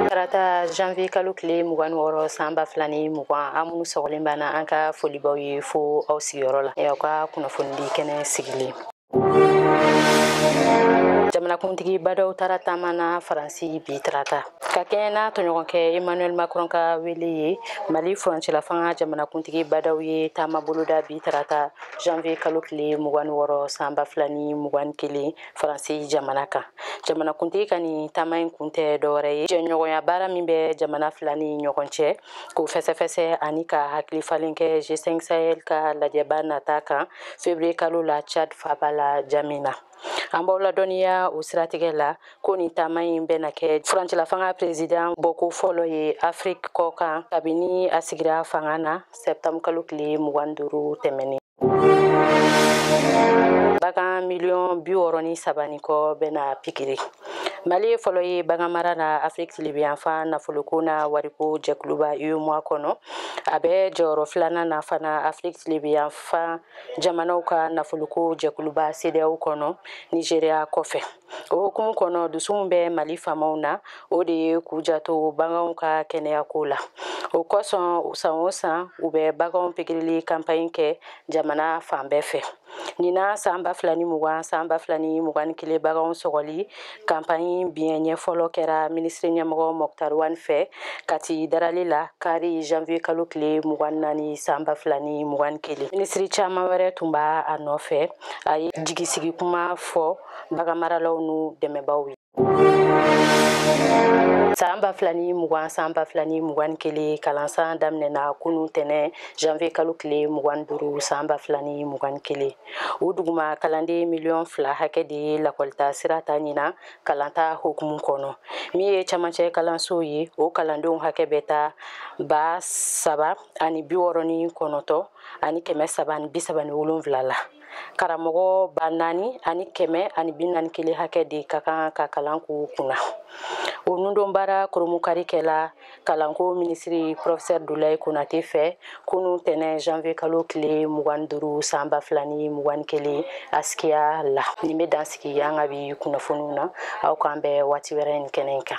tarata janvier kalo tile mugan ni wɔɔrɔ san ba fila ni mugan aw minnu sɔgɔlen b'an na an ka foli b'aw ye fo aw sigiyɔrɔ la aw ka kunnafonidi kɛnɛ sigilen jamanakuntigi ba ndaw taara taama na faransi bi tarata ka kɛɲɛ n'a tɔɲɔgɔnkɛ emmanuel macron ka wele ye mali furancɛlafanga jamanakuntigi ba ndaw ye taama boloda bi tarata janvier kalo tile mugan ni wɔɔrɔ san ba fila ni mugan ni kelen faransi jamana kan jamanakuntigi ka nin taama in kun tɛ dɔwɛrɛ ye jɛɲɔgɔnya baara min bɛ jamana fila ni ɲɔgɔn cɛ k'o fɛsɛfɛsɛ ani ka hakili falen kɛ g5 sahel ka lajɛba nata kan fevrier kalo la tchad faba la ndjamena an b'aw ladɔnniya o siratigɛ la ko nin taama in bɛna kɛ furancɛlafanga prezidan bɔko fɔlɔ ye afiriki kɔkan kabini a sigira fanga na septembre kalo tile mugan duuru tɛmɛnen bagan miliyɔn bi wɔɔrɔ ni saba ni kɔ bɛna pikiri mali ye fɔlɔ ye baganmara na afiriki tilibiyanfan nafoloko na wariko jɛkuluba uemoa kɔnɔ a bɛ jɔyɔrɔ filanan na fana afiriki tilibiyanfan jamanaw ka nafoloko jɛkuluba sedeyaw kɔnɔ nizeriya kɔfɛ o hukumu kɔnɔ dusu min bɛ mali faamaw na o de ye k'u janto baganw ka kɛnɛyako la o kosɔn san o san u bɛ baganw pikirili kanpaɲi kɛ jamana fan bɛɛ fɛ ɲina san ba fila ni mugan san ba fila ni mugan ni kelen baganw sɔgɔli kanpaɲi biɲɛ ɲɛ fɔlɔ kɛra minisiri ɲɛmɔgɔ moctar ouane fɛ kati darali la kari janvier kalo tile mugan naani san ba fila ni mugan ni kelen minisiri caman wɛrɛ tun b'a nɔfɛ a ye jigisigi kuma fɔ baganmaralaw n'u dɛmɛbaaw ye san ba fila ni mugan san ba fila ni mugan ni kelen kalansan daminɛna kunu tɛnɛ janvier kalo tile mugan duuru san ba fila ni mugan ni kelen o duguma kalanden miliyɔn fila hakɛ de ye lakɔli taasira ta ɲina kalanta hukumu kɔnɔ min ye camancɛ kalansow ye o kalandenw hakɛ bɛ taa ba saba ani bi wɔɔrɔ ni kɔnɔtɔ ani kɛmɛ saba ni bi saba ni wolonwula la karamɔgɔ ba naani ani kɛmɛ ani bi naani kelen hakɛ de ka kan ka kalan k'u kunna o nundonbaara koronbonkari kɛla kalanko minisiri professeur doulaye konate fɛ kunu tɛnɛ janvier kalo tile mugan duuru san ba fila ni mugan kelen asikiya la nin bɛ dan sigi an ka bi kunnafoniw na aw k'an bɛn waati wɛrɛ nin kɛnɛ in kan